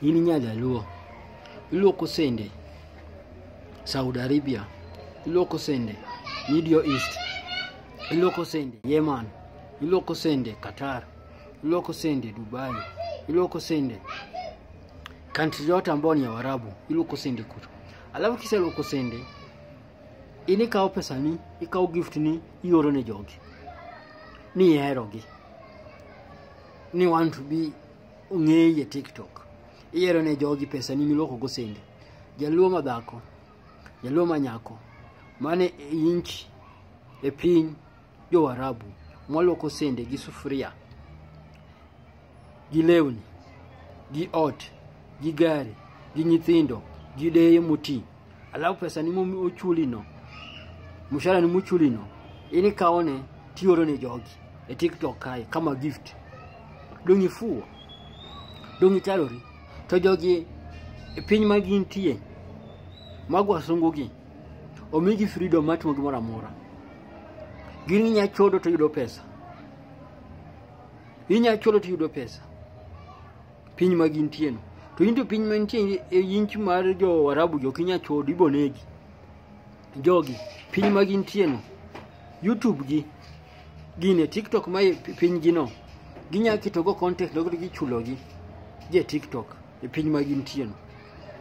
in nyajaluo iluoko sende saudi arabia iluoko sende middle east iluoko sende yeman iluoko sende qatar iluoko sende dubai iluoko sende kantri yote ambayo ni ya warabu iluoko sende kutu alafu kisa iluoko sende in ikawo pesani ikawo gift ni ioro ne jogi ni iherogi ni want to be ong'eyi e tiktok iyiero ne jogi pesa ni miloko go sende jaluo ma dhako jaluo ma nyako mane inchi e piny jowarabu mwaloko sende gi sufuria gi lewni gi ot gi gari gi nyithindo gi deye moti alafu pesa ni mochulino mshahara ni mochulino in ikawone tioro ne jogi e tiktok kae kama gift dong' ifuwo dong' icharori to jogi e piny ma gintie mago wasungugi omigi freedom mar timo gimoro amora gin inya chodo to yudo pesa inya chodo to yudo pesa piny ma gintie no to into piny ma nitie e inch mar jo warabu jo kinya chodo ibo negi jogi piny ma gintie no youtube gi gine tiktok ma e pi- piny gi no ginya ketogo content no kendo gichulogi je tiktok e piny ma gintie no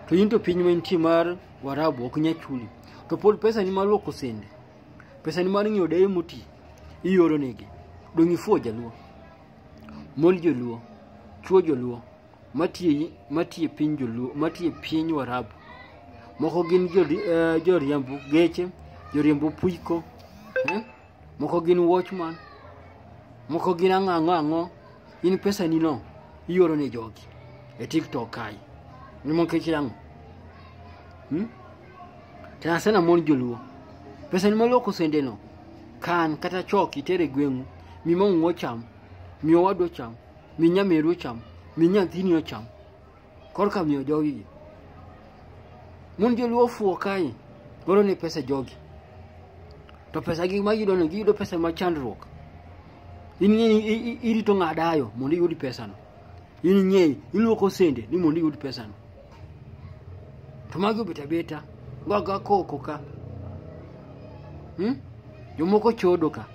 to into piny ma nitie mar warabu ok nya chuli to pod pesa ni mar luoko sende pesa ni mar ng'iewo deye moti ioro negi dong' ifuwo jaluo Mon joluo, chuo joluo, matiye matiye piny joluo, matiye piny Warabu. Moko gin jori, eh, joriembo geche, joriembo puiko, eh? moko gin watchman, moko gin ang'o ang'o ang'o. In pesa ni no ioro ne jogi e TikTok kae. Ni mon kech yangu. Hmm? Tena sana mon joluo. Pesa ni maloko sende no. Kan kata chok itere gweng'u. Mi mong'u ocham. Mi owadu ocham. Mi nyameru ocham. Mi nyathini ocham. Korka miyo jogi gi. Mon joluo ofuo kae. Golo ne pesa jogi. To pesa gi ma giyudo no giyudo pesa ma chandruok. In ing'e ni i- i- irito ng'adayo mondo iyud pesano. In ing'eyo iluoko sende ni mondo iyud pesano. To magi obet abeta, waga koko ka. Hmm? Jomoko chodo ka,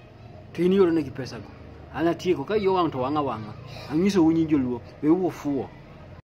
to in ioro negi pesago. An atieko, ka iyo wang' to wang'a wang'a. Anyiso unyi joluo, we ufuo.